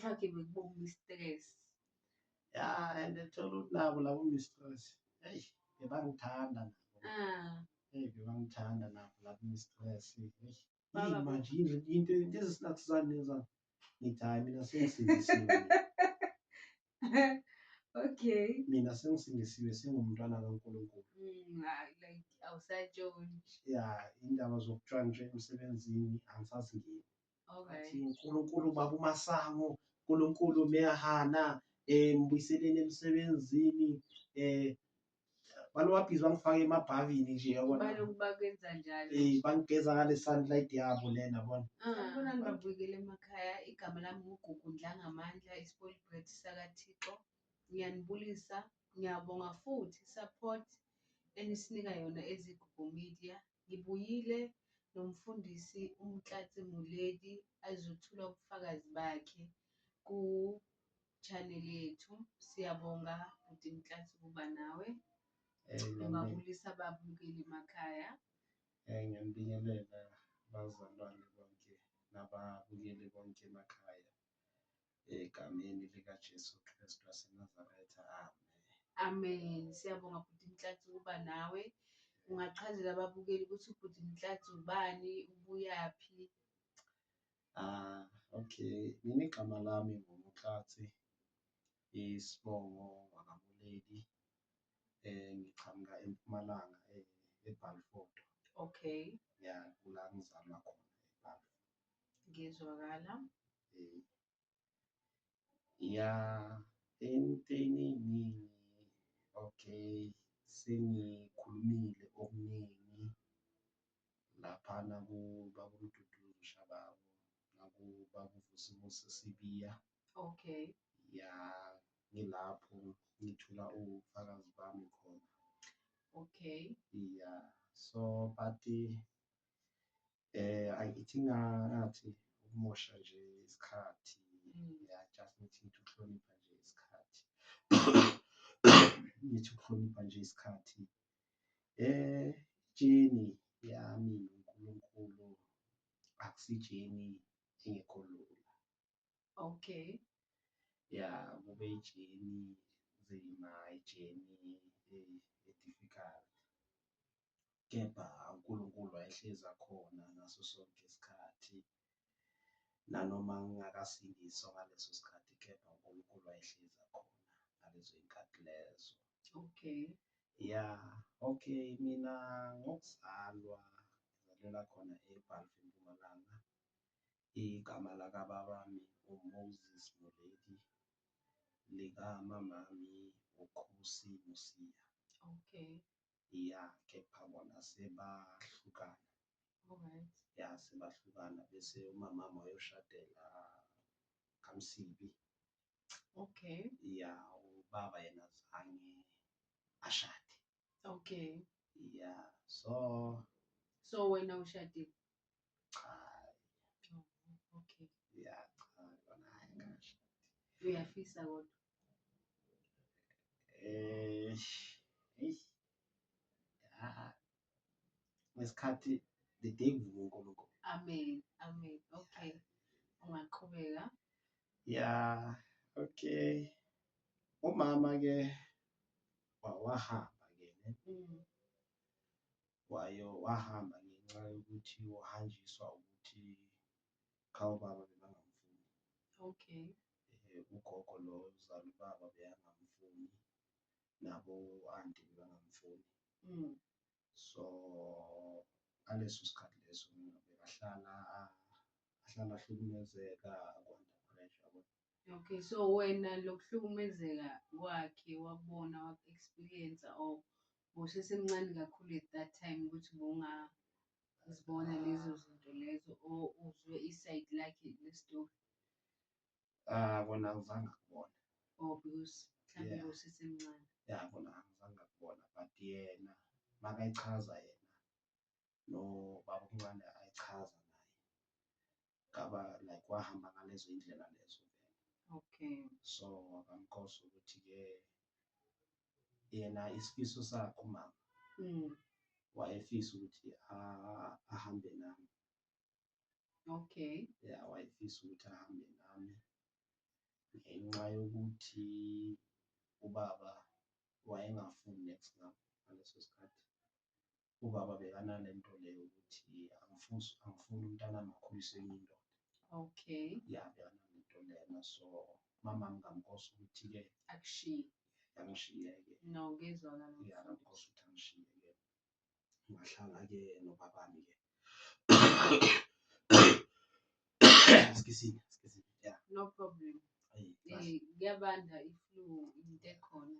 kufakiwe kubo mistress ya and thola ukuthi nabo labo mistress eyi bebangithanda nabo ah. eyi bebangithanda nabo labo mistress eyi manje into into ezisinathizane zami ngithi hhayi mina sengisindisiwe okay mina sengisindisiwe sengumntwana kankulunkulu mm, awusatshontsha ya indaba zokutshontsha emsebenzini angisazingeni athi unkulunkulu baba umasango unkulunkulu meyahana um eh, mbuyiseleni emsebenzini um balowabhizi bangifake emabhavini nje yabona um bangigeza ngale sunlight yabo lena bona abona ah. nibabuyekele emakhaya igama lami ngugugu ndlangamandla isipolibret sakathixo ngiyanibulisa ngiyabonga futhi support enisinika yona ezigugu media Ngibuyile noMfundisi uMtlatsi Moledi azothula ubufakazi bakhe ku channel yethu. Siyabonga bhuti Mtlatsi ukuba nawe. Ngibabulisa babukeli emakhaya. Eh, ngiyanibingelela bazalwane bonke nababukeli bonke emakhaya. egameni likaJesu Kristu waseNazaretha, amen. Amen. Siyabonga bhuti Nhlanhla ukuba nawe. Ungachazela ababukeli ukuthi ubhuti Nhlanhla ubani, ubuyaphi? Ah, okay. Mina igama lami nguMkhathi isibongo wakamuleli eh ngiqhamuka eMpumalanga eh, eBalfour. Okay. Ya, kula ngizalwa khona eBalfour. ngizwakala eh, ya entweni eningi okay sengikhulumile okuningi laphana kubakumduduzi ushabawo nakubakuvusimusi sibiya okay ya ngilapho ngithula ubufakazi bami khona okay ya so but Eh angithi ngathi ukumosha nje isikhathi ya just ngithi ngithi ukuhlonipha nje isikhathi ngithi ukuhlonipha nje isikhathi eh jeni yami uNkulunkulu akusijeni engekho lula okay ya kube ijeni nzima ijeni eh, e-difficult kepha uNkulunkulu wayehlezi akhona ngaso sonke isikhathi. Nanoma ngingakasindiswa ngaleso sikhathi kepha uNkulunkulu wayehlezi akhona ngalezo y'nkathi lezo. Okay. Ya, okay, mina ngokuzalwa ngizalelwa khona eBhalve eMpumalanga. Igama lakababami uMoses Moledi, likamamami uKhusi Mosiya. Okay. ya kepha bona sebahlukana Alright. ya sebahlukana bese umamami wayoshadela kamsibi Okay. ya ubaba yena zange ashade Okay. ya so So wena ushadile? cha Oh, okay. ya cha kona hayi ngashada Uyafisa kodwa. eh eish ah ngesikhathi the day kuvuka uNkulunkulu amen amen okay ungaqhubeka ya okay umama ke wawahamba ke ne mm. wayo wahamba ngenxa yokuthi uhanjiswa ukuthi khawubaba bebangamfuni okay eh, ugogo lo uzala ubaba beyangamfuni nabo anti bebangamfuni mm. so aleso sikhathi leso mina bekahlala ahlala ahlukumezeka akwanda pressure okay so wena lokuhlukumezeka kwakhe wakubona waku-experience or bosesemncane kakhulu at that time ukuthi bunga uzibona lezo zinto lezo or uzwe isayidi lakhe lestori Ah kona angizange akubona. Oh because mhlambe Yeah. usesemncane. Ya kona angizange akubona but yena makayichaza yena no baba omncane ayichaza naye. Ngaba like wahamba ngalezo indlela lezo vele. Okay. So wakamkhosi ukuthi ke yena isifiso sakhe umama Mm. wayefisa ukuthi a- ahambe nami okay ya wayefisa ukuthi ahambe nami ngenxa yokuthi ubaba wayengafuni next ngam ngaleso sikhathi ubaba bekanale nto leyo ukuthi angifuni angifuni umntana amakhulise enye indoda okay ya bekanale nto lena so mama ngingamkhosi ukuthi-ke akushiye yangishiye-ke no ngezwakala ya ngamkhosi ukuthi angishiye-ke ngahlala ke nobabami ke skisini skisini yeah no problem eh, kuyabanda if you into ekhona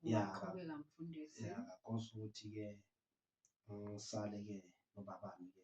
yeah qhubeka mfundisi yeah ngakhosa ukuthi ke ngisale ke nobabami ke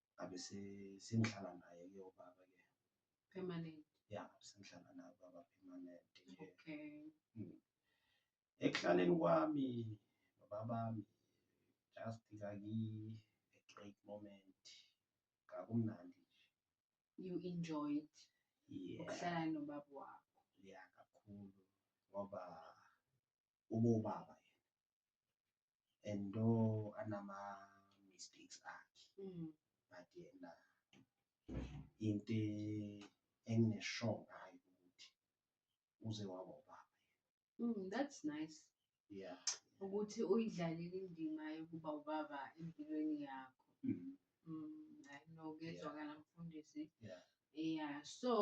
ngabe se- sengihlala naye ke ubaba ke Permanent. ya sengihlala naye ubaba permanent nje Okay. ekuhlaleni kwami nobabami just kayi a great moment kakumnandi You enjoyed nje yeah ukuhlala nobaba wakho. ya kakhulu ngoba ubobaba yena and though anama mistakes akhe mm. but yena into enginesure ngayo ukuthi uze waba ubaba mm, that's nice yeah ukuthi uyidlalile indima yokuba ubaba empilweni yakho mm. mm, i know kuyezwakala mfundisi yeah yeah so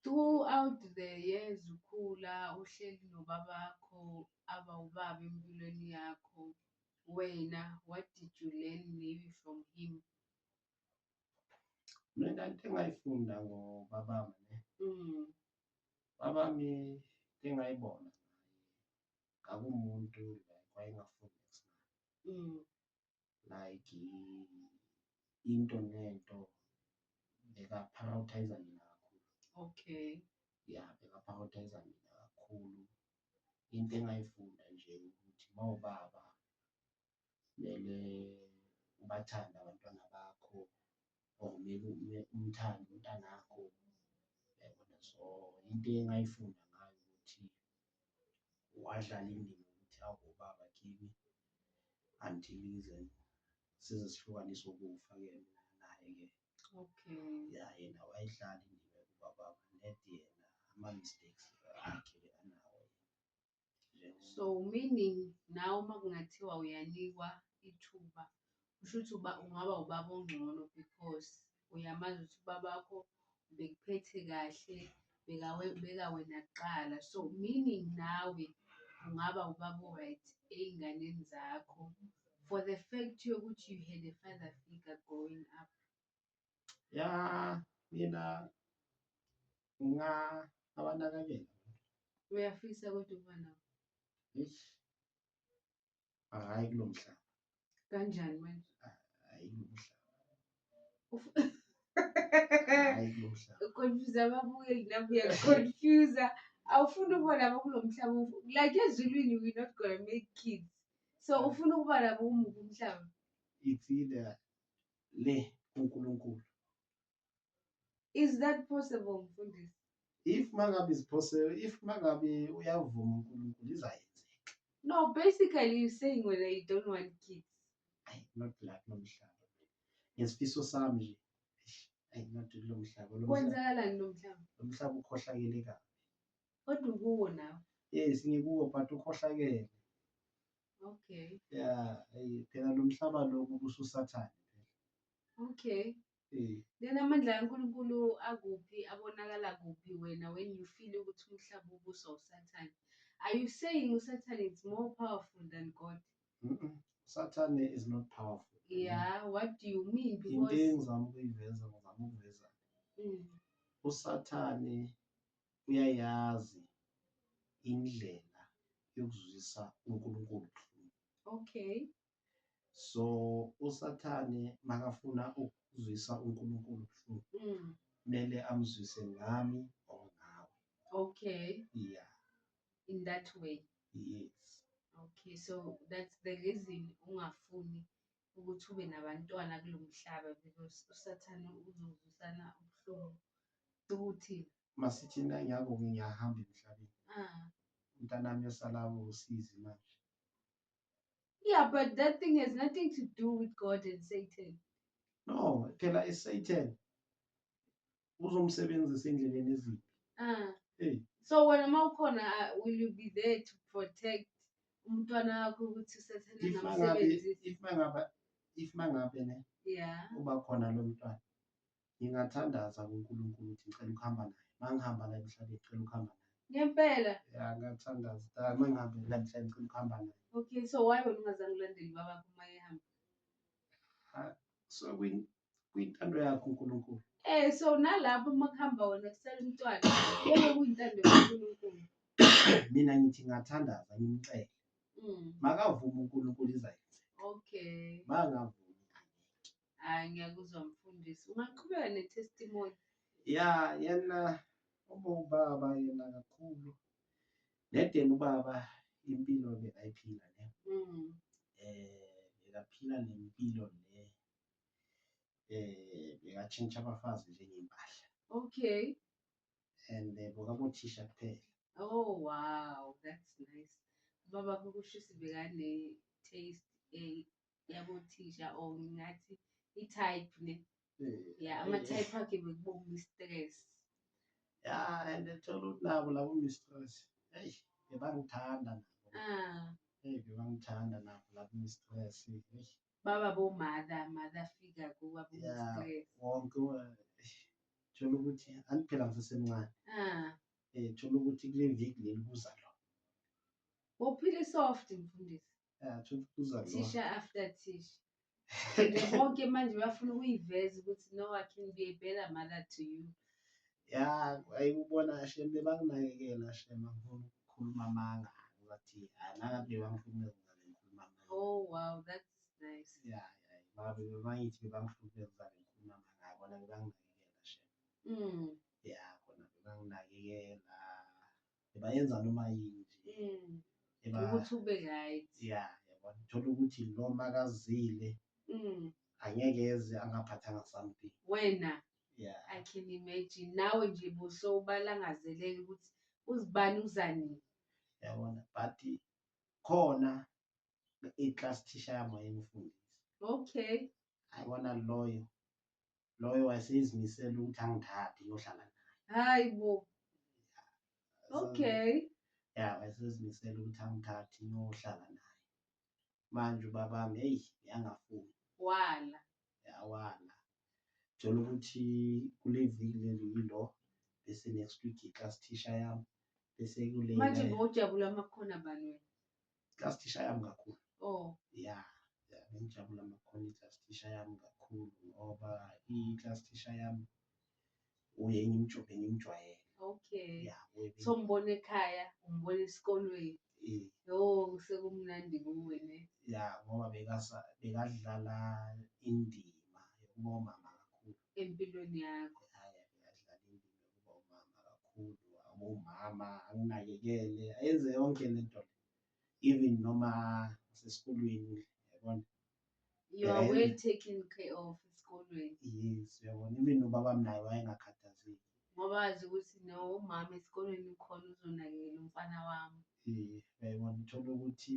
Throughout the years ukhula uhleli nobabakho abawubaba empilweni yakho, wena what did you learn maybe from him? Mina into engayifunda ngobabami ne. Mm. Babami into engayibona ngakumuntu like wayengafuni ukusina. Mm. like into nento bekaphawuthayiza mina kakhulu okay ya bekaphawuthayiza mina kakhulu into engayifunda nje ukuthi mawubaba kumele ubathande abantwana bakho or maybe ume umthande umntanakho yabona so into engayifunda ngayo ukuthi wadlala indima ukuthi awubaba kimi until ize size sihlukaniswe ukufa ke mina naye ke okay ya yena wayidlala indima yokuba baba net yena ama mistakes akhe So meaning nawe uma kungathiwa uyanikwa ithuba kusho ukuthi uba ungaba ubaba ongcono because uyamazi ukuthi ubaba wakho bekuphethe kahle beka wena kuqala so meaning nawe ungaba ubaba o-right ey'nganeni zakho for the fact yokuthi you had a father figure growing up. ya mina nga abanakekela uyafisa kodwa ukuba nabo eish hayi kulomhlaba kanjani manje hayi kulomhlaba hayi kulomhlaba uconfuse ababukeli nabo uyaconfuse awufuni ukuba nabo kulo mhlaba ufu- like ezulwini we not gonna make kids so ufuna ukuba nabo umubi umhlaba it's either le kuNkulunkulu is that possible mfundisi if mangabe is possible if mangabe uyavuma uNkulunkulu izayenzeka no basically you saying whether you don't want kids ay not like nomhlaba ngesifiso sami nje ay not lo mhlaba lo kwenzakalani lo mhlaba lo mhlaba ukhohlakele kabi kodwa ukuwo nawe yes ngikuwo but ukhohlakele Okay. Yeah, eh, phela lo mhlaba lo kubususathane phela. Okay. Eh. Then amandla kaNkulunkulu akuphi abonakala kuphi wena when you feel ukuthi umhlaba ubuswa usathane. Are you saying usathane is more powerful than God? Mm -mm. Sathane is not powerful. Yeah, what do you mean? Into Because engizama ukuyiveza ngizama ukuveza mm. usathane uyayazi indlela yokuzwisa uNkulunkulu ubuhlungu. Okay. So uSathane makafuna ukuzwisa uNkulunkulu ubuhlungu Mm. kumele amzwise ngami or ngawe. Okay. Yeah, In that way. yes. Okay. So that's the reason ungafuni ukuthi ube nabantwana kulo mhlaba because usathane uzozwisana ubuhlungu ukuthi masithi nangiyakuke ngiyahamba emhlabeni ah umntanami yosalawo usizi manje yeah but that thing has nothing to do with god and satan no phela isatan uzomsebenzisa endleleni eziphi Ah. Hey. so wena uma ukhona ah, will you be there to protect umntwana wakho ukuthi usathane if mangabe angamsebenzisi if mangabe if mangabe ne ya uba khona lo mntwana ngingathandaza kuNkulunkulu ukuthi ngicela ukuhamba naye mangihamba la emhlabeni ngicela ukuhamba naye ngempela ya ngathandaza ah, mangihambe la emhlabeni ngicela ukuhamba naye okay so why wena ungazange ulandele ubabakho uma ehamba so kwin- kuyintando yakho uNkulunkulu eh so nalapho uma kuhamba wena kusala umntwana yebo kuyintando kaNkulunkulu mina ngithi ngathandaza ngimcele mm. makavuma uNkulunkulu izayenze okay makavuma hayi ngiyakuzwa mfundisi ungaqhubeka netestimony ya yena uma ubaba yena kakhulu nedeni ubaba impilo bekayiphila ne mm. eh bekaphila nempilo le eh bekatshintsha abafazi njengempahla okay and eh, bokabothisha kuphela oh wow that's nice baba kukushisi bekane taste eh yabothisha or ngathi i type ne Eh, yeah ama eh, type akhe bekubonga stress ya and thola ukuthi nabo labo mistress hey bebangithanda nabo ah hey bebangithanda nabo labo mistress hey Baba bo mother, mother figure kuba bo Yeah. stress. wonke u- eish, thola ukuthi anti phela ngisesemncane Ah, um thola ukuthi kule viki leli kuza lo bophile soft mfundisi. um thola ukuthi kuza lo Tisha after tisha. Nje bonke manje bafuna ukuyiveza ukuthi no I can be a better mother to you. ya ayi ubona shem bebanginakekela shem angifuni ukukhuluma amanga ngathi anaka bebangihlukumeza ngale ngikhuluma amanga oh wow that's nice ya ya babe bebangithi bebangihlukumeza ngale ngikhuluma amanga bona bebanginakekela shem mm ya kona bebanginakekela bebayenza noma yini nje mm ukuthi ube right ya yabona thola ukuthi lo makazile mm angeke eze angaphathanga something wena yeah i can imagine nawe nje buso ubalangazelele ukuthi uzibani uzanini yabona but khona i-class teacher yami wayengifundisa okay ayibona loyo loyo wayeseyizimisela ukuthi angithathe ngiyohlala naye hayi bo okay ya wayesezimisela ukuthi angithathe ngiyohlala naye manje ubabami eyi yangafuni wala yawala thola ukuthi kuleviki leli yilo bese next week i-class teacher yami bese kule manje ngojabula amakhona bani wena class teacher yami kakhulu oh ya ya ngijabula amakhona i-class teacher yami kakhulu ngoba i-class teacher yami uye ngimjube ngimjwayele okay ya uye- so umbona ekhaya umbona esikolweni i- yo sekumnandi kuwe ne ya ngoba bekasa bekadlala indima yokuba umama kakhulu empilweni yakho haya bekadlala indima yokuba umama kakhulu abomama anginakekele ayenze yonke lento le even noma sesikolweni yabona You are well taken care of esikolweni. Yes, uyabona even ubaba naye wayengakhathazeki. Ngoba wazi ukuthi no umama esikolweni ukhona uzonakekela umfana wami. Eh, uyabona uthola ukuthi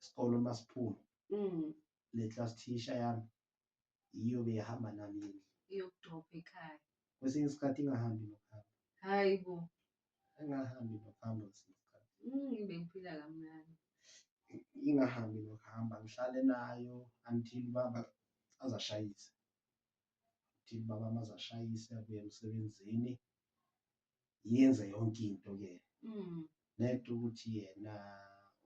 isikole uma siphuma mm. le class teacher yami yiyo beyihamba nami indlu iyokudropha ekhaya kwesinye isikhathi ingahambi nokuhamba hayi bo ingahambi nokuhamba kwesinye isikhathi mm, bengiphila kamnandi ingahambi nokuhamba ngihlale nayo until baba azashayise until baba mazashayise abuye emsebenzini yenze yonke into kuyena mm. nento ukuthi yena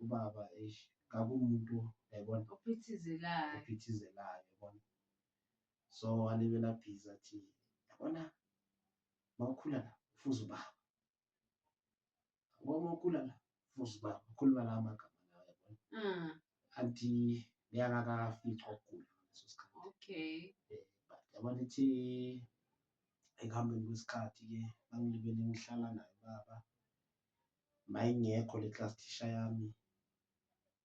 ubaba eish kakumuntu yabona ophithizelayo ophithizelayo yabona so alibela bhiza athi yabona mawukhula la ufuza ubaba ngoba ukhula la futhi uba ukhuluma lawo magama lawo yabona Mm. anti beyangakafica ukugula ngaleso sikhathi Okay. Eh, but yabona ithi ekuhambeni kwesikhathi ke bangilibele ngihlala naye baba mayingekho le class thisha yami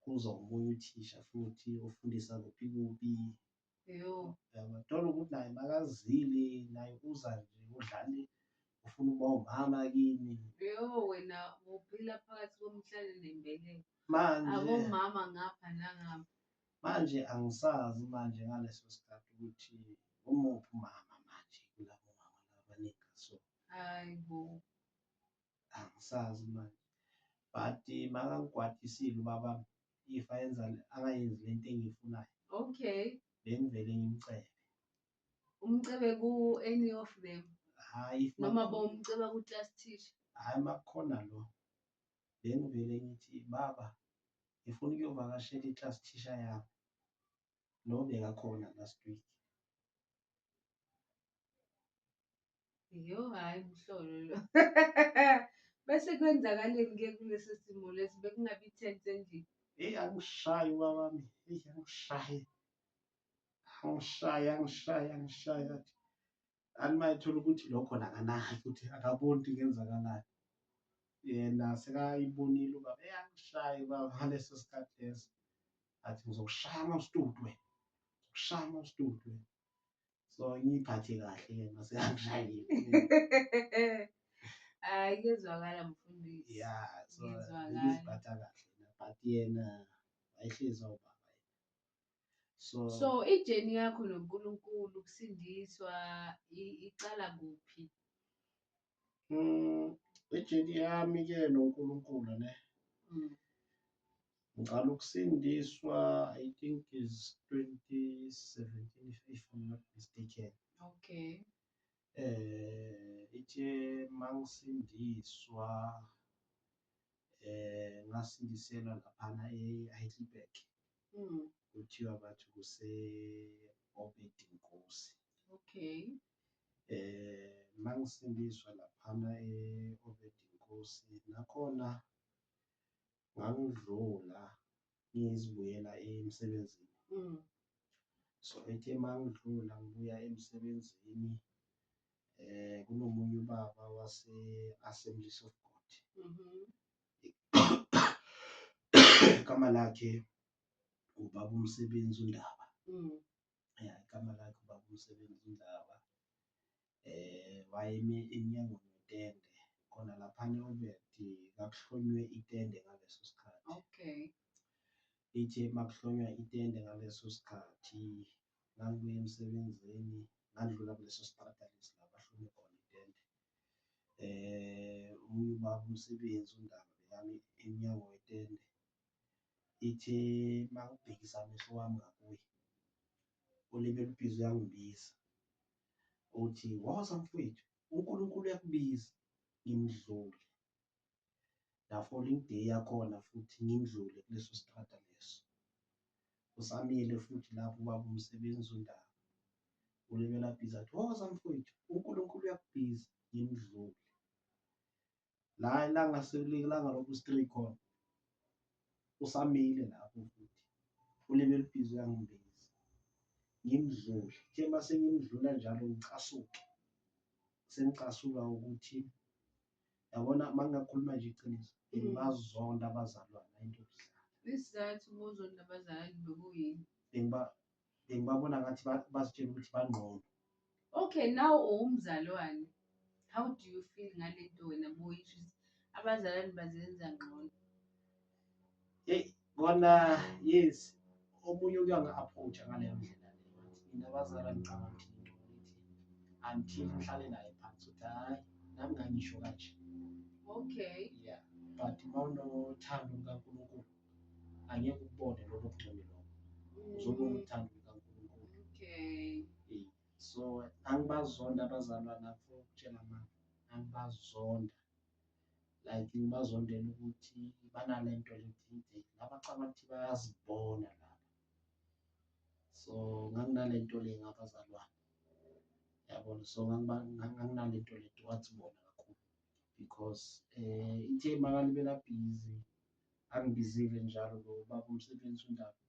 kuza omunye uthisha futhi ofundisa kuphi kuphi Yo. Uyabona ukuthi naye makazile naye uza nje udlale ufuna uba umama kimi. Yo wena uphila phakathi komhlane nembeleko. Manje abomama ngapha nangapha. Manje angisazi manje ngaleso sikhathi ukuthi umuphi umama manje kulabo mama labanika so. Hayi bo. angisazi manje but eh, makangigwadisile ubaba if ayenza akayenzi lento engiyifunayo okay bengivele ngimcebe umcebe ku any of them hayi noma bomceba ku class teacher hayi makukhona lo bengivele ngithi baba ngifuna ukuyovakashela i-class teacher yami lo bekakhona last week Yo, hhayi mhlolo lo. Bese kwenzakaleni-ke kulesi simo lesi bekungabi ithente endlini. Eyi angishayi ubaba wami. Eyi angishayi. Angishayi, angishayi, angishayi athi. Anti mayethola ukuthi lo khona akanayo ukuthi akaboni ukuthi kuyenzakalayo. Yena sekayibonile ubaba. Eyi angishayi ubaba ngaleso sikhathi leso. Athi ngizokushaya mawustudu wena. Ngizokushaya mawustudu wena. so ngiyiphathe kahle ke mase angishayile hayi kuyezwakala mfundisi ya so ngiziphatha kahle but yena wayehlezi awubaba so so ijeni yakho noNkulunkulu kusindiswa iqala kuphi Mm, ijeni yami ke noNkulunkulu ne. Mm. Ngicela ukusindiswa I think is 2017 if I'm not mistaken. Okay. Eh ithe mangisindiswa eh ngasindiselwa laphana eHeidelberg. Mm. Kuthiwa bathi kuse Obed Nkosi. Okay. eh mangisindiswa laphana e-Obedinkosi nakhona ngangidlula ngizibuyela emsebenzini mm. so ethe mangidlula ngibuya emsebenzini eh kunomunye ubaba wase Assemblies of God mhm. igama lakhe ubaba umsebenzi undaba mm. ya igama lakhe ubaba umsebenzi undaba eh wayeme enyangweni wetende khona laphana obekthi kakuhlonywe itende ngaleso sikhathi okay ithe makuhlonywa itende ngaleso sikhathi ngangibuye emsebenzini ngandlula kuleso siqada lesi la bahlome khona itende eh omunye ubaba umsebenzi undaba bekami emnyango wetende ithi makubhekisa amehlo wami ngakuye ulimi lubhizi uyangibiza uthi woza mfowethu uNkulunkulu uyakubiza ngimdlule la falling day yakhona futhi ngimdlule kuleso strata leso usamile futhi lapho ubaba umsebenzi undaba ulimi labhiza athi woza mfowethu uNkulunkulu uyakubiza ngimdlule la ilanga sekulilanga lokhu straight khona usamile lapho futhi ulimi elibhizi uyangibhizi ngimdlule kuthe uma sengimdlula njalo ngicasuke sengicasuka ukuthi yabona uma ngingakhuluma nje iqiniso mm. ngibazonda abazalwane into yokudlala isizathu ubuzonda abazalwane bekuyini bengiba bengibabona ngathi ba- bazitshela ukuthi bangqono okay now uwumzalwane how do you feel ngale nto wena boyisho ukuthi abazalwane bazenza ngcono heyi kona yes omunye uke angi-approacha ngaleyo ndlela leyo wathi mina bazala ngicabanga ukuthi into ukuthi until ngihlale naye phansi ukuthi hhayi nami ngangisho kanje okay ya but uma unothando lukankulunkulu angeke ukubone lokho kugcwele lokho uzobona uthando lukaNkulunkulu okay eh, so angibazonda abazalwa lapho ukutshela ma angibazonda like ngibazondela ukuthi banalento lethinte laba cabanga ukuthi bayazibona laba so nganginalento le ngabazalwane yabona so nganginalento le towards bona kakhulu because um eh, ithe makalibela busy Angibizile njalo lo baba umsebenzi undaba.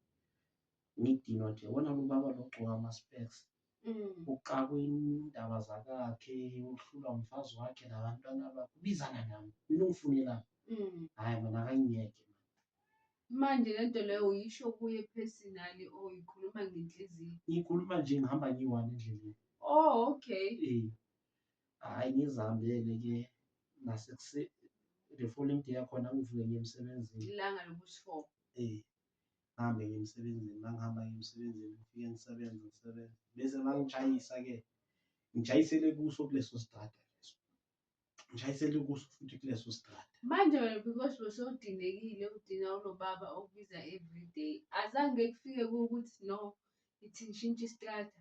Ngidinwa nje wona lo baba lo gcoka ama specs. Mm. Uxakwe indaba zakakhe, uhlulwa umfazi wakhe labantwana bakhe. Ubizana nami. Mina ungifunela. Mm. Hayi mina akangiyeke. Manje lento leyo uyisho kuye personally or uyikhuluma ngenhliziyo? Ngikhuluma nje ngihamba ngiyi-one endleleni. Oh, okay. Eh. Hhayi ngizihambele ke nasekuse the following day yakhona ngivuke ngiye emsebenzini. Ilanga lokuthi-four. Eh ngihambe ngiye emsebenzini mangihamba ngiye emsebenzini ngifike ngisebenze ngisebenze bese mangijayisa-ke ngijayisele kuso kuleso sitrada leso ngijayisele kuso futhi kuleso sitrada Manje wena because bosodinekile udina unobaba okubiza everyday. Azange kufike kuwukuthi no ithi ngishintshe isitrata.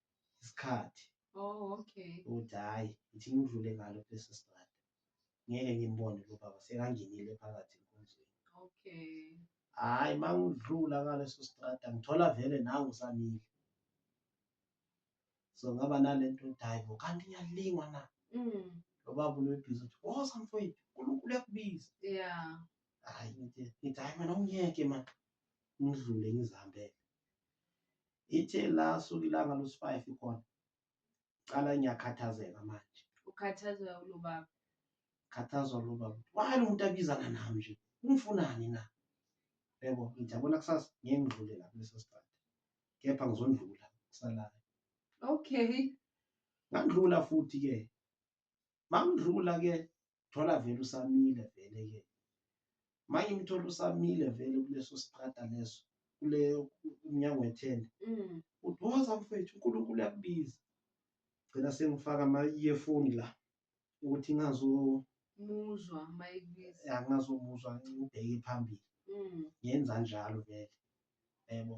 isikhathi oh okay ukuthi hayi ngithi ngidlule ngalo kulesi strata ngeke ngimbone lo baba sekangenile phakathi enkonzweni okay hayi uma ngidlula ngaleso strata ngithola vele nawe usamile so ngaba nale nto ukuthi hayi bo kanti ngiyalingwa na mm. lo baba unebhizi ukuthi woza mfowethu unkulunkulu uyakubiza ya hayi ngithi hayi mina ungiyeke mani ngidlule ngizihambele ithe la suka ilanga lusifayifi khona cala ngiyakhathazeka manje ukhathazwa ulubaba khathazwa lobaba wani umuntu abizana nami nje ungifunani na yebo ngijabula kusasa ngeke ngidlule la kuleso sikhathi kepha ngizondlula kusalayo okay ngandlula futhi ke mangidlula ke thola vele usamile vele ke manje umthola usamile vele kuleso strata leso kule umnyango wethende mm. uthi woza mfethu unkulunkulu uyakubiza gcina sengifaka ama-earphone la ukuthi ngazomuzwa mayikubiza ngazomuzwa ngibheke phambili mm. ngenza njalo vele yebo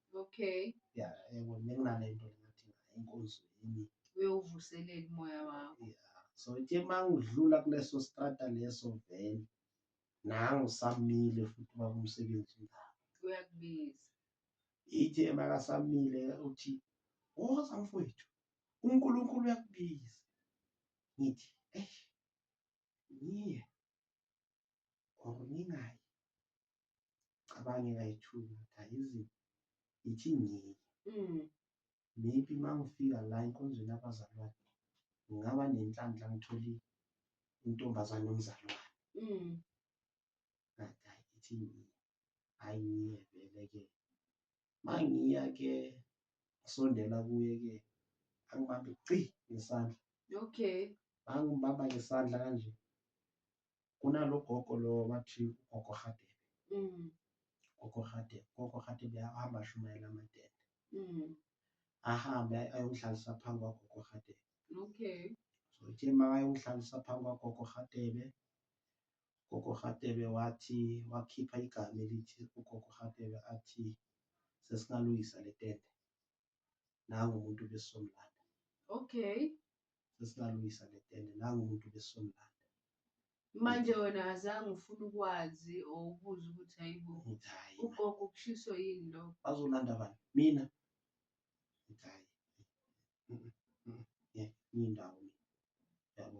Okay. Ya, yebo benginale nto ngathi inkonzo yini. Uyovuselela umoya wakho. Ya. So ithe mangidlula kuleso strata leso vele nangu samile futhi baba umsebenzi ngawo. Uyakubiza. Ithe makasamile uthi woza mfowethu uNkulunkulu uyakubiza. Ngithi eish ngiye or ngingayi. cabange kayithula kayizi ithi ngeke mm. maybe uma ngifika la enkonzweni abazalwane ngingaba nenhlanhla ngithole intombazane omzalwane mm. ithi hayi ngiye vele ke ma ngiya ke ngisondela kuye ke angibambe ci ngesandla okay angibamba ngesandla kanje kunalogogo lo wathi ugogo Hadebe mm. gogo Hadebe gogo Hadebe ahamba ashumayela amadende mm. ahambe ayongihlalisa phambi kwagogo Hadebe okay so ithe ma ayongihlalisa phambi kwagogo Hadebe gogo Hadebe wathi wakhipha igama elithi ugogo Hadebe athi sesingalungisa le tende nangu umuntu ubesomlanda okay sesingalungisa ngetende nangu umuntu ubesomlanda manje wena azange ufuna ukwazi or ubuze ukuthi hayibo ngithi hhayi ugogo ukushiswa yini lo bazolanda abantu mina ngithi hhayi Mm, mm, mm, yeah, ngiyindawo mina yabo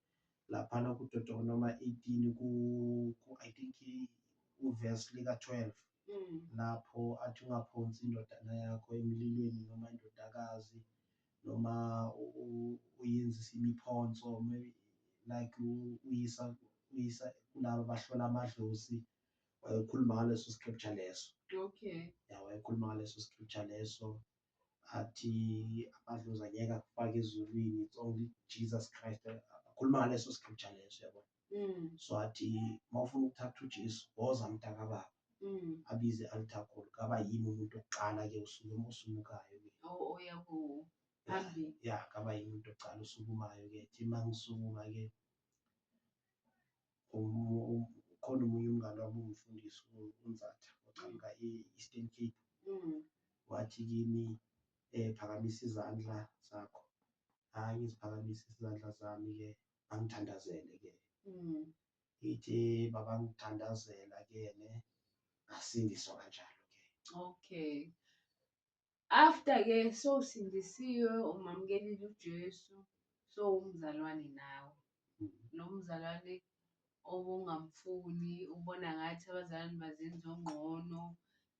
laphana kudodoka noma 18 ku, ku i think uvesi lika-12 mm. lapho athi ungaphonsi indodana yakho emlilweni noma indodakazi noma uyenzisa imiphonso like uyisa uyisa kulaba bahlola amadlozi wayekhuluma ngaleso scripture leso okay ya wayekhuluma ngaleso scripture leso athi amadlozi angeke akufake ezulwini it's only jesus christ akhuluma ngaleso scripture leso yabo mm. so athi uma ufuna ukuthatha ujesu woza mntaka baba mm. abize i-altar call kaba yini umuntu okuqala ke usuke osumukayo ke oh, oh, ya kaba yini umuntu okuqala osukumayo ke thi uma ngisukuma ke Ukhona omunye umngane wami ungifundisi uNzatha oqhamuka e-Eastern Cape. Mm. Wathi kimi eh phakamisa izandla zakho. Hayi ngiziphakamise izandla zami ke angithandazele ke. Mm. Ithi baba ngithandazela ke ne ngasindiswa kanjalo ke. Okay. After ke sowusindisiwe umamkelile uJesu sowumzalwane nawe lo mzalwane obungamfuni ubona ngathi abazalwane bazenza ongqono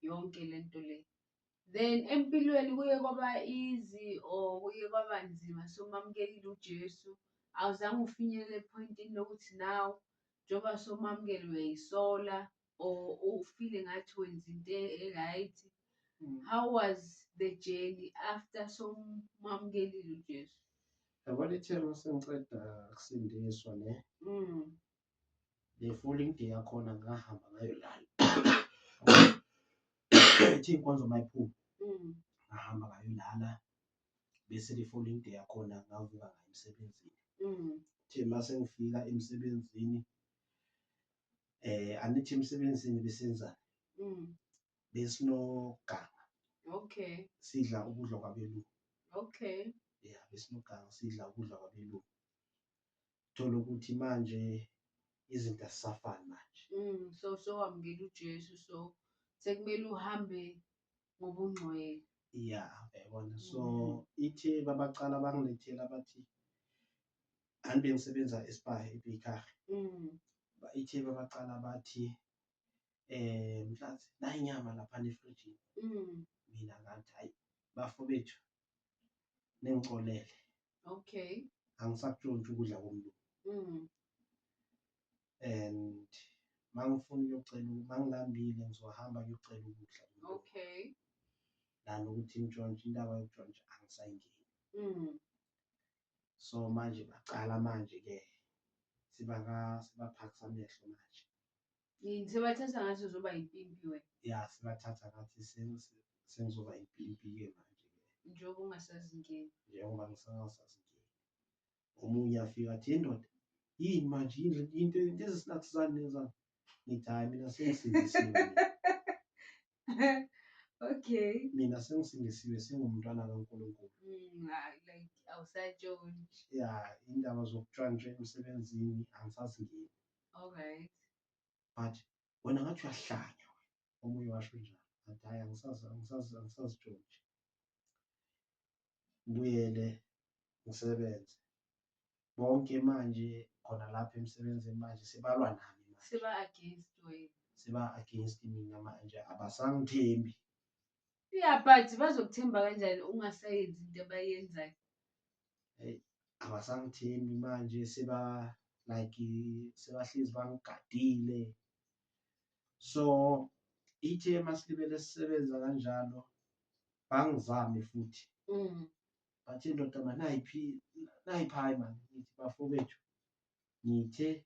yonke le nto le. Then empilweni kuye kwaba easy or kuye kwaba nzima sowumamukelile uJesu awuzange ufinyelele ephoyintini lokuthi now njengoba sowumamukele uyayisola or ufile ngathi wenza into e-right Mm. how was the journey after somamkelile ujesu yabo lithelo sengiceda kusindiswa ne mm. le falling day yakhona ngahamba ngayolala ethi inkonzo mayiphuma mm. ngahamba ngayolala bese le falling day yakhona ngavuka ngayo emsebenzini mm. the mase ngifika emsebenzini eh anithi emsebenzini besenza Mm. besinoganga Okay. sidla ukudla kwabelungu Okay. ya besinoganga sidla ukudla kwabelungu thola ukuthi manje izinto asisafani manje Mm. So so wamukela uJesu so sekumele uhambe ngobungcwele ya yabona so mm. ithe babaqala bangilethela bathi anti bengisebenza espa ebikar mm. ithe babaqala bathi um mhlathi nayinyama lapha nefrijini mm. mina ngathi hayi bafo bethu ningixolele okay angisakutshontsha ukudla komlungu mm. and mangifuna ukuyocela mangilambile ngizohamba ngiyocela ukudla okay lana ukuthi ngitshontshe indaba yokutshontsha angisayingeni mm. so manje bacala manje ke sibaka sibaphakisa amehlo manje Yini sebathatha ngathi uzoba impimpi wena ya sibathatha ngathi sen- sen- sengizoba impimpi-ke manje njengoba ungasazingeni. njengoba ngisangasazingeni omunye afika athi "Hey, ndoda yini manje yini le- yini into- into ezisinathizani nenzani ngithi hhayi mina sengisindisiwe mina. Okay. mina sengisindisiwe sengumntwana kankulunkulu Mm, ah, like awusatshontsha. ya indaba zokutshwantsha emsebenzini angisazingeni Alright. But wena ngathi uyahlanya omunye washo njalo. Ngathi hayi angisazi angisazi angisazi George. Ngibuyele ngisebenze. Bonke manje khona lapha emsebenzini manje sibalwa nami manje. Siba against wena. Siba against mina manje abasangithembi. Ya but bazokuthemba kanjani ungasayenzi into abayenzayo? Hey, abasangithembi manje seba like sebahlezi bangigadile. So ithe masilibele sisebenza kanjalo bangizame futhi. Mm. Bathi indoda manayiphi nayiphi hayi mani ngithi bafowethu ngithe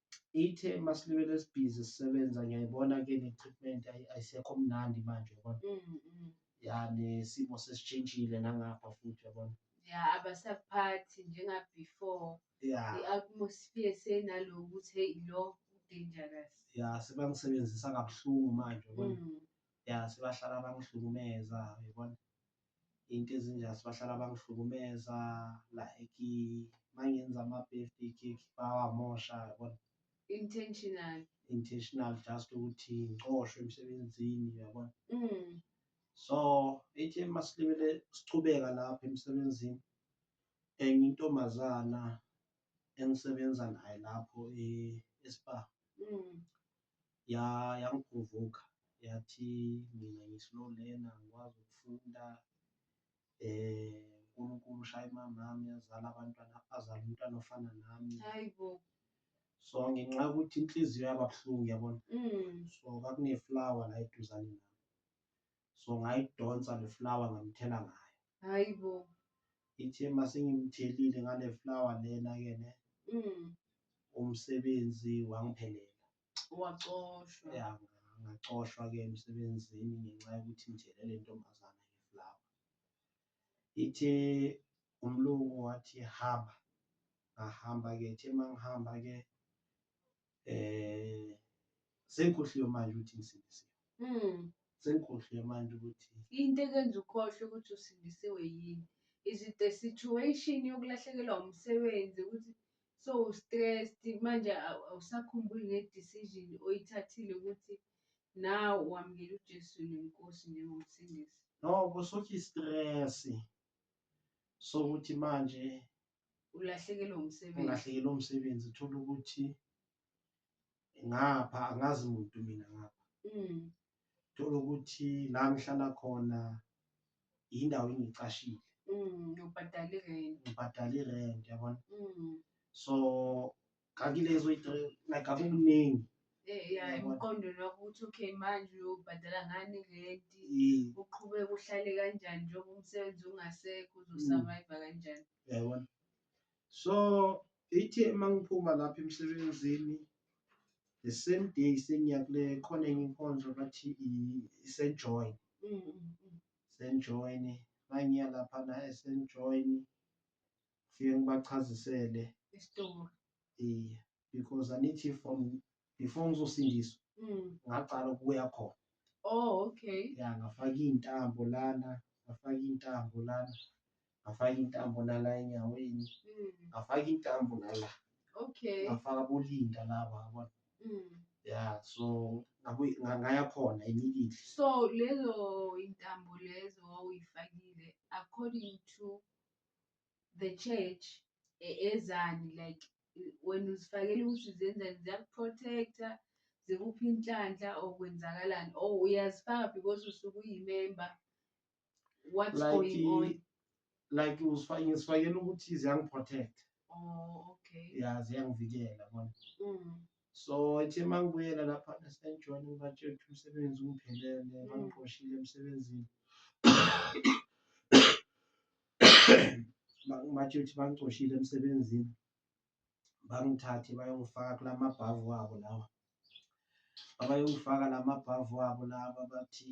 ithe masilibele sibhizi sisebenza ngiyayibona ke ne-treatment ayi- ayisekho mnandi manje yabona Mm, mm. ya nesimo sesishintshile nangapha futhi yabona ya abasaphathi njengabefore ya i-atmosphere senaloku ukuthi heyi lo dangerous ya sebangisebenzisa kabuhlungu manje yabona Mm. ya sebahlala bangihlukumeza yabona into ezinjani sibahlala bangihlukumeza like mangenza ama-birthday cake bawamosha yabona intentional intentional just ukuthi ngicoshwe emsebenzini yabona mm. so ethi masilibele sichubeka lapha emsebenzini enye intombazana engisebenza naye lapho e-spa mm. ya yangiprovoka yathi mina ngi-slow learner ngikwazi ukufunda eh uNkulunkulu ushaya imamami yazala abantwana azala umntwana ofana nami hayibo so ngenxa yokuthi inhliziyo yababuhlungu yabona mm. so kwakuneflower la eduzane nami so ngayidonsa le flower ngamthela ngayo hayi bo ithe masengimthelile ngale flower lena ke ne mm. umsebenzi wangiphelela wacoshwa ya ngacoshwa ke emsebenzini ngenxa yokuthi ngithele le ntombazana ngeflower ithe umlungu wathi hamba ngahamba ke ithe mangihamba ke eh sengikhohliwe manje ukuthi ngisindisiwe mm. sengikhohliwe manje ukuthi into ekwenza ukhohlwe ukuthi usindisiwe yini is it the situation yokulahlekelwa umsebenzi ukuthi so stressed manje awusakhumbuli ne-decision oyithathile ukuthi now wamukela ujesu nenkosi njengomsindisi no kusuthi i-stress sokuthi manje ulahlekelwe umsebenzi ulahlekelwe umsebenzi uthola ukuthi ngapha angazi muntu mina ngapha mm. thola ukuthi la ngihlala khona yindawo engicashile mm, ubhadale irent ubhadale irent yabona mm. so kanti lezo like akukuningi Eh, ya emqondweni wakho ukuthi okay manje uyobhadala ngani renti Eh, uqhubeke uhlale kanjani njengoba umsebenzi ungasekho uzosurviva kanjani yabona so ithi uma ngiphuma lapha emsebenzini the same day sengiya kule khona enye inkonzo bathi i- isenjoin Mm, mm, mm. senjoin mangiya laphana esenjoin ngifike ngibachazisele isitori yeah because anithi from before ngizosindiswa mm. ngaqala ukuya khona oh okay ya ngafaka iy'ntambo lana ngafaka iy'ntambo lana ngafaka iy'ntambo nala enyaweni mm. ngafaka iy'ntambo nala okay ngafaka bolinda laba yabona mm. ya so ngaya khona immediately so lezo intambo lezo wawuyifakile according to the church e- ezani like i- wena uzifakela ukuthi uzenzani ziyakuprotecta zikuphi inhlanhla or kwenzakalani or uyazifaka because usuke uyimemba what's like going on i- like usifa- ngisifakela ukuthi ziyangiprotect oh okay ya ziyangivikela bona mm. So ethe uma ngibuyela laphana sengijoyine ngibatshela ukuthi umsebenzi ungiphelele mm. bangiqoshile emsebenzini ngibatshela ukuthi bangicoshile emsebenzini bangithathe bayongifaka kula mabhavu wabo lawa abayongifaka la mabhavu wabo laba bathi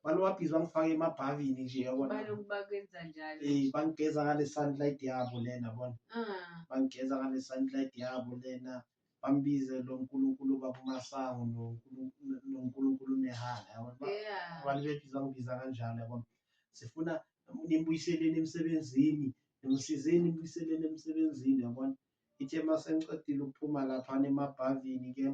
abantu babhizi bangifake emabhavini nje yabona Baloku bakwenza njalo. Eh, bangigeza ngale sunlight yabo lena bona Ah, bangigeza ngale sunlight yabo lena bambize lo nkulunkulu babumasango noNkulu- no- nonkulunkulu mehana yabona Ba- yeah. abantu bebhizi bangibiza kanjalo yabona sifuna nimbuyiseleni emsebenzini nimsizeni nimbuyiseleni emsebenzini yabona ithe masengiqedile ukuphuma laphana emabhavini ke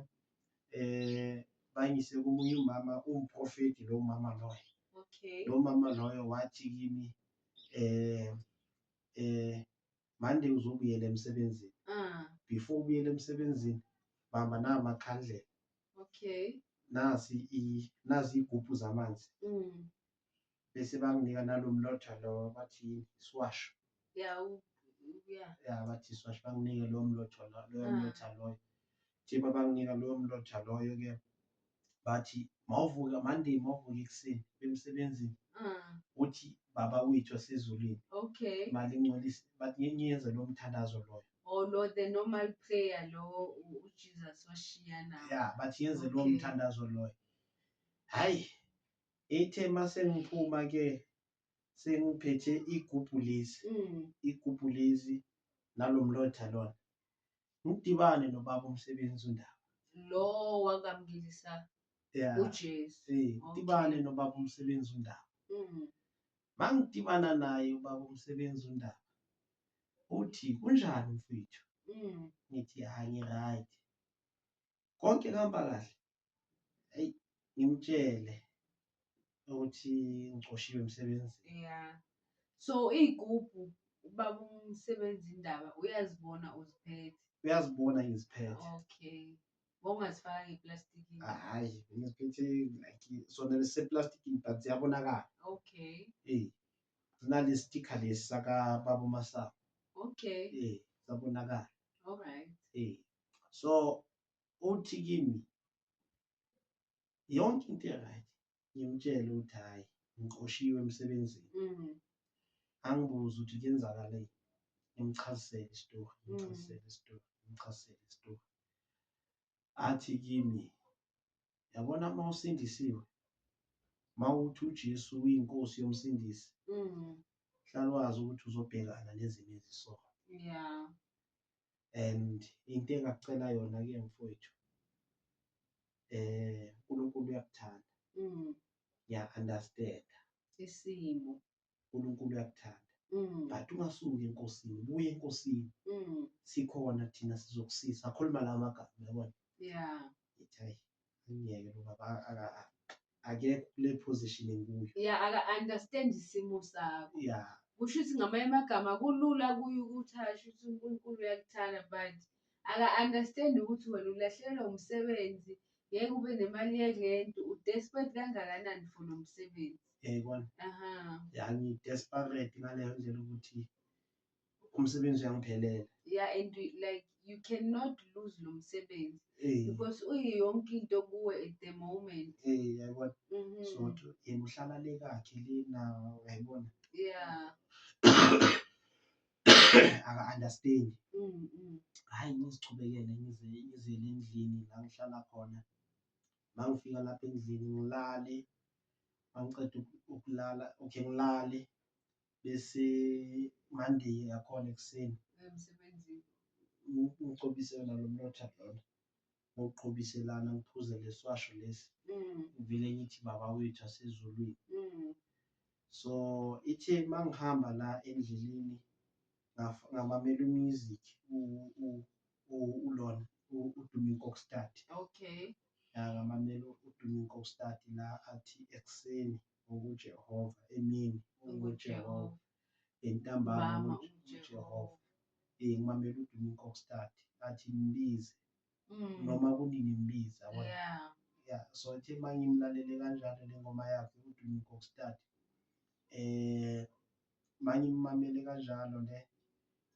eh bangise komunye umama umprofeti lo mama loyo okay lo mama loyo wathi kimi eh eh mande uzobuyela emsebenzini ah before ubuyele emsebenzini bamba namakhandlela okay nasi i nazi igubhu zamanzi mm. bese banginika nalo mlotha lo bathi yini isiwasho ya ya bathi isiwasho banginike lowo mlotha loyo ah. mlotha loyo thiba banginika loyo mlotha loyo ke bathi mawuvuka monday mawuvuka ekuseni bemsebenzini ah. uthi baba wethu wasezulwini okay mali ngcolisa bathi ngeke ngiyenze lo mthandazo loyo or oh, lo the normal prayer lo uJesus washiya nawo yeah but yenze lo mthandazo loyo hayi ithe masengiphuma ke sengiphethe igubhu lezi mm. igubhu lezi nalo mlotha lona ngidibane nobaba umsebenzi undaba lo wakamngilisa yeah. ujesu hey, ngidibane okay. nobaba umsebenzi undaba mm. mangidibana naye ubaba umsebenzi undaba uthi kunjani mfethu mm. ngithi hayi ngiright konke kuhamba kahle hey ngimtshele ukuthi ngicoshiwe emsebenzini yeah so iy'gubhu ubaba umsebenzi indaba uyazibona uziphethe uyazibona ngiziphethe okay wawungazifaka ngeplastikini hhayi ngiziphethe like sona lesiseplastikini but ziyabonakala okay eh sinale sticker lesi sakababa umasango okay eh sabonakala alright eh so uthi kimi yonke into right ngimtshele ukuthi hayi ngiqoshiwe emsebenzini mhm. angibuze ukuthi kwenzakaleni ngimchazisele isitori mm. ngimchazisele isitori ngimchazisele isitori athi kimi yabona uma usindisiwe uma uthi uJesu uyinkosi yomsindisi mm. hlala wazi ukuthi uzobhekana nezimo ezisoka yeah and into engakucela yona ke mfowethu eh uNkulunkulu uyakuthanda mm. ya understand isimo uNkulunkulu uyakuthanda mm. but ungasuki enkosini buye enkosini mm. sikhona thina sizokusiza akhuluma la magama yabona yeah angiyeke lo baba aka- aka- akekho kule position enguyo ya aka-understand isimo sakho ya kusho ukuthi ngamanye amagama kulula kuye ukuthi asho ukuthi unkulunkulu uyakuthanda but aka-understand ukuthi wena ulahlekelwa umsebenzi ngeke ube nemali yelento u-desperate kangakanani for lo msebenzi yayibona aha ya ngi-desperate ngaleyo ndlela ukuthi umsebenzi uyangiphelela yeah and we, like you cannot lose lo msebenzi Eh, because uyi yonke into kuwe at the moment eh, yayibona Mhm. so to yena uhlala le kakhe le nawo yayibona yeah aka-understand Mm, mm. hhayi ngizichubekele ngize ngizele endlini la ngihlala khona ma ngifika lapha endlini ngilale ma ngiqeda uku- ukulala okay ngilale bese Monday yakhona ekuseni ngicobise yona lo mlotha lona ngokuqhobiselana ngiphuze leswasho lesi mm. ngivele ngithi baba wethu asezulwini mm. so ithe mangihamba la endleleni ngamamela umusic ulona uDuming Kokstad okay ngamamela uDuming Kokstad la athi ekuseni UJehova emini unguJehova entambama uJehova eh ngimamela udumo kokstart athi mbize mm. noma kunini mbiza yeah yeah so ethe mangimlalele kanjalo lengoma yakhe udumo kokstart eh mangimamele kanjalo le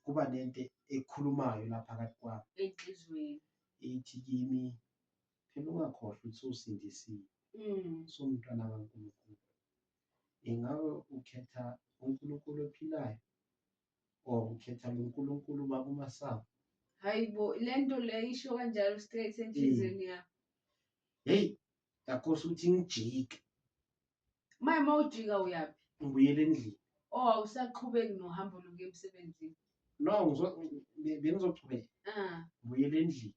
kuba nento ekhulumayo lapha kathi kwami enhlizweni ithi kimi Phela ungakhohlwa ukuthi usindisiwe, usumntwana kaNkulunkulu. Ingabe ukhetha uNkulunkulu ophilayo or ukhetha lo Nkulunkulu ubaba umasango? Hayi bo, le nto le isho kanjalo straight enhliziyweni yakho. Heyi, ngakhohlwa ukuthi ngijike. Manje uma ujika uyaphi? Ngibuyele endlini. Oh, awusaqhubeki nohambo lokuya emsebenzini? No, bengizochubeka. Ah. Ngibuyele endlini.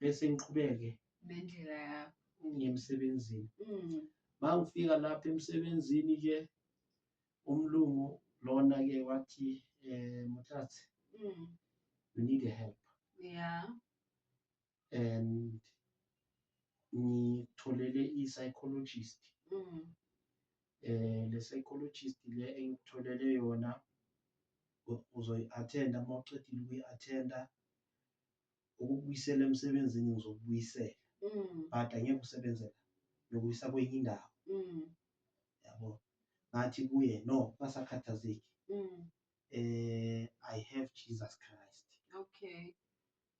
bese ngiqhubeke nendlela yakho ngiye emsebenzini mm. mangifika lapha emsebenzini ke umlungu lona ke wathi eh muthathe mm. you need a help yeah and ngitholele i-psychologist mm. eh le psychologist le engitholele yona uzoyi-attenda uma uqedile ukuyi-attenda ukubuyisela emsebenzini ngizokubuyisela mm. but angeke usebenze la ngiyokuyisa kwenye indawo mm. yabo ngathi kuye no kasakhathazeki mm. eh i have jesus christ okay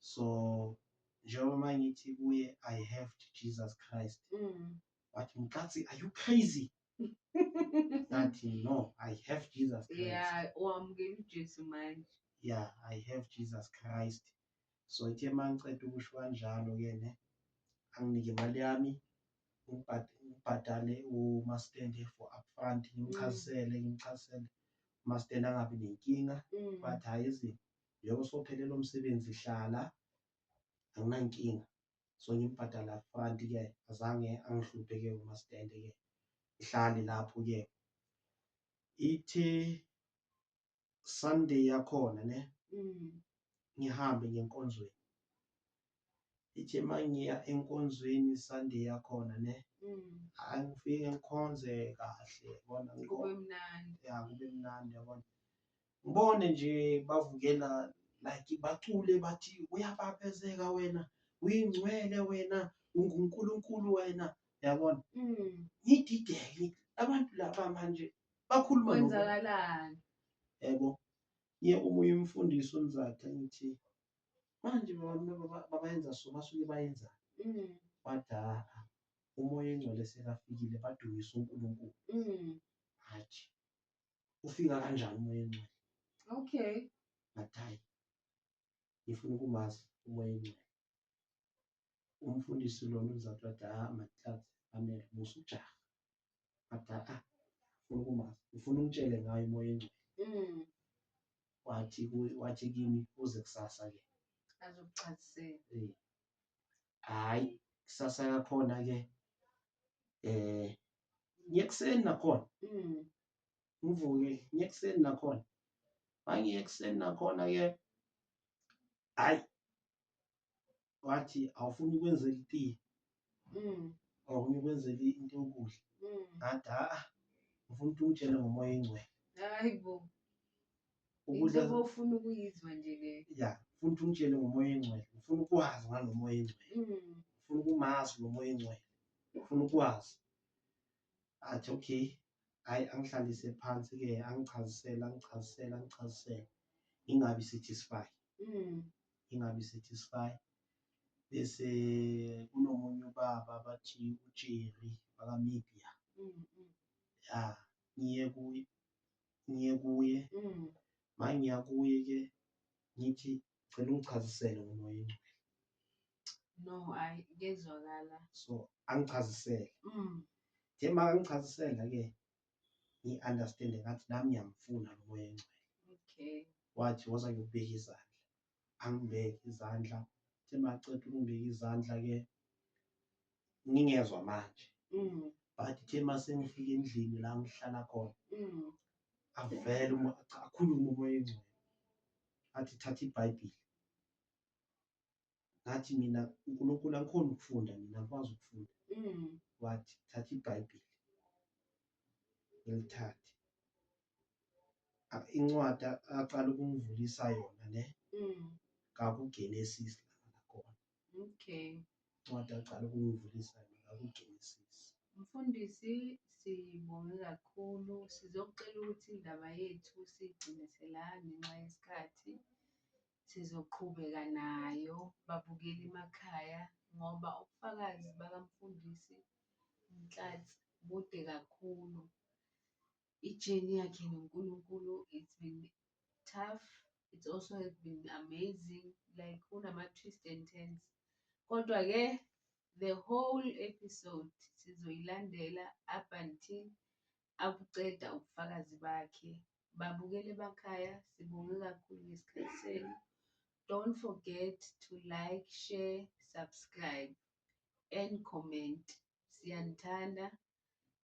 so njengoba mangithi kuye i have jesus christ mm. wathi mkatsi are you crazy that no i have jesus christ yeah wamukela ujesu manje yeah i have jesus christ so ithe ma ngiceda ukusho kanjalo ke ne anginike imali yami ngibhadale umastende for upfront ngimchazisele mm. ngimchazisele umastende angabi nenkinga mm. but hhayi izinto njengoba sophelele umsebenzi hlala anginankinga so ngimbhadala upfront ke azange angihluphe ke umasidende ke ngihlale lapho ke ithi sunday yakhona ne mm. ngihambe ngenkonzweni ithi mangiya enkonzweni sunday yakhona ne mm. angifike ngikhonze kahle yabona kube mnandi ya kube mnandi yabona ngibone nje bavukela like bacule bathi uyababezeka wena uyingcwele wena ungunkulunkulu wena yabona mm. ngidideke abantu laba manje bakhuluma kwenzakalani yebo ye omunye umfundisi umzatha ngithi manje babayenza so basuke bayenza mm. bathi ha-a umoya engcwele sekafikile badumise unkulunkulu mm. hathi ufika kanjani umoya ongcwele okay ngathi hayi ngifuna ukumazi umoya ongcwele umfundisi lona uzathi wathi ah mathatha amele musa ujaha ngathi ah ngifuna ukumazi ngifuna ungitshele ngayo umoya ongcwele Mm. wathi kuye- wathi kimi uze kusasa ke Azokuchazisela. Eh, hhayi kusasa yakhona-ke um ngiyekuseni nakhona mm. ngivuke ngiyekuseni nakhona mangiye ekuseni nakhona-ke hhayi wathi awufuni ukwenzela itiye mm. awufuni ukwenzela into yokudla mm. ngathi ha ngifuna ukuthi ungitshele ngomoya engcwele ukuze Into ofuna ukuyizwa nje le ya ufuna ukuthi umtshele ngomoya engcwele ufuna ukwazi ngalo moya engcwele Mm. ufuna ukumazi lo moya engcwele ufuna ukwazi athi okay hayi angihlalise phansi ke angichazisele angichazisele angichazisele ingabi satisfied Mm. ingabi satisfy bese kunomunye ubaba bathi uJerry bakamibia Mm. Mm. ya ngiye kuye ngiye kuye ma ngiya kuye ke ngithi cela ungichazisele ngomoya ingcwele no hayi kezwakala so angichazisele mm. nje ma angichazisela ke ngi-understande ngathi nami ngiyamfuna lo moya engcwele okay wathi woza ngiyokubeka izandla angibeke izandla the maceda ukungibeka izandla ke ngingezwa manje mm. but the masengifika endlini la ngihlala khona mm. avele akhulume umoya engcwele athi thatha ibhayibhile ngathi mina unkulunkulu angikhona ukufunda mina akwazi ukufunda mm. wathi thatha ibhayibhile ngilithathe incwadi aqala ukungivulisa yona le mm. kakugenesis lakhona okay incwadi aqala ukungivulisa yona kakugenesis mfundisi sibonge kakhulu sizokucela ukuthi indaba yethu sigcine sela ngenxa yesikhathi sizoqhubeka nayo babukeli emakhaya ngoba ubufakazi bakamfundisi Nhlathi bude kakhulu. ijeni yakhe noNkulunkulu it's been tough it's also has been amazing like kunama-twist and turns kodwa-ke the whole episode sizoyilandela up until akuceda ubufakazi bakhe babukele emakhaya sibonge kakhulu ngesikhathi senu don't forget to like share subscribe and comment siyanithanda